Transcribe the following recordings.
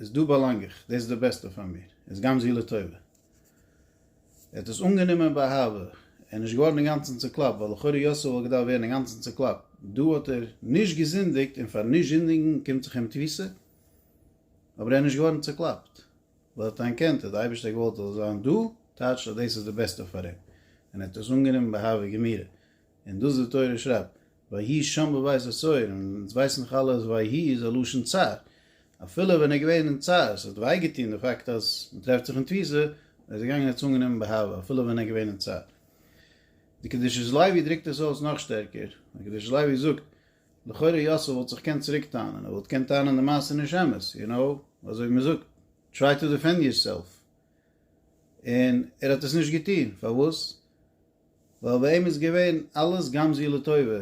איז דא באלאנג איך, דאס איז די בעסטע פאר מיר, איז גם זי לטובה. ער האט דאס אנגענומען באהבה, ער איז נישט געווארן אינגאנצן צוקלאפט, ווייל לכאורה יוסף וואלט געדארפט ווערן אינגאנצן צוקלאפט, דא האט ער נישט געזינדיגט און פארן נישט זינדיגן קומט זיך אים תפיסה, אבער ער איז נישט געווארן צוקלאפט, ווייל ער האט אנערקענט אז די אייבערשטער האט געוואלט אז ער זאל זיין דא, טייטשט אז דאס איז די בעסטע פאר אים, און ער האט דאס אנגענומען באהבה גמירה, און דאס די תורה שרייבט, ויהי שם בבית הצור, און אונז ווייסן דאך אלע אז ויהי איז א לשון צער, אפילו ווען ער איז געווען אין צער, ס'האט וויי געטון די פאקט אז מען טרעפט זיך אין תפיסה, ער איז געגאנגען ער האט עס אנגענומען באהבה אפילו ווען ער איז געווען אין צער. די קדושת לוי דרוקט עס אויס נאך שטערקער, די קדושת לוי זאגט, לכאורה יוסף וואלט זיך געקענט צוריק טענה'ן, ער וואלט געקענט טענה'ן די מעשה איז נישט אמת, יו נאו, אזוי ווי מען זאגט, טריי טו דיפענד יורסעלף, און ער האט עס נישט געטון, פארוואס? ווייל ביי אים איז געווען אלעס גם זו לטובה,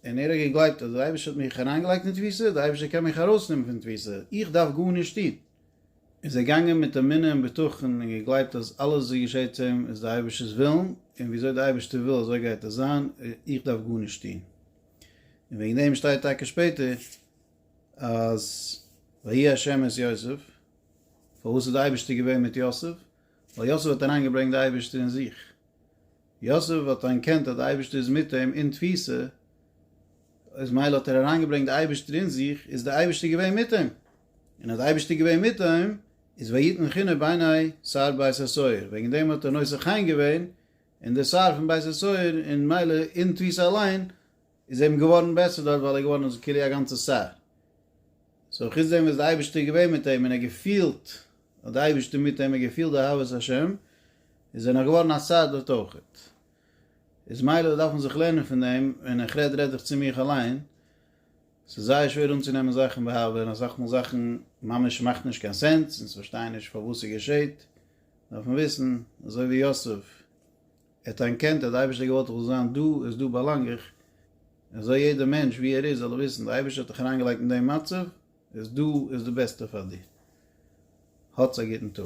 און ער האט געגלייבט אז דער אייבערשטער האט מיך אריינגעלייגט אין תפיסה, דער אייבערשטער קען מיך ארויסנעמען פון תפיסה, איך דארף גארנישט טון. איז ער געגאנגען מיט אמונה און בטחון און געגלייבט אז אלעס וואס געשעט צו אים איז דער אייבערשטער'ס ווילן, און ווי אזוי דער אייבערשטער וויל אזוי גייט עס זיין, איך דארף גארנישט טון. און וועגן דעם שטייט טאקע שפעטער אז ויהי ה' את יוסף, פארוואס איז דער אייבערשטער געווען מיט יוסף? ווייל יוסף האט אריינגעברענגט די אייבערשטער אין זיך, יוסף האט אנערקענט אז די אייבערשטער איז מיט אים אין תפיסה, איז מילא האט ער אריינגעברענגט די אייבערשטער אין זיך, איז די אייבערשטער געווען מיט אים, און אז די אייבערשטער איז געווען מיט אים, איז ויתן חן בעיני שר בית הסוהר, וועגן דעם האט ער נושא חן געווען אין די שר פון בית הסוהר, און מילא אין תפיסה אליין, איז אים געווארן בעסער דארט ווייל ער איז געווארן אין זכי' א גאנצע שר. סאו חוץ דעם וואס די אייבערשטער איז געווען מיט אים און ער האט געפילט אז די אייבערשטער איז מיט אים, ער האט געפילט די אהבת השם, איז ער נאך געווארן א שר דארט אויכעט. איז מילא דארף מען זיך לערנען פון דעם, און איך רעד רעד איך צו מיך אליין, ס'איז זייער שווער אנצונעמען זאכן בהבלע און אסאך מאל זאכן ממש מאכט נישט קיין סענס, אונז פארשטייען נישט פארוואס ס'געשעהט, דארף מען וויסן, אזוי ווי יוסף, ער האט אנערקענט אז די אייבערשטער געוואלט איך זאל זיין דא, איז דא באלאנג איך, און זאל יעדער מענטש ווי ער איז זאל ער וויסן די אייבערשטער האט דיך אריינגעלייגט אין דעם מצב, איז דא איז די בעסטע פאר דיר. האטס א גוטן טאג.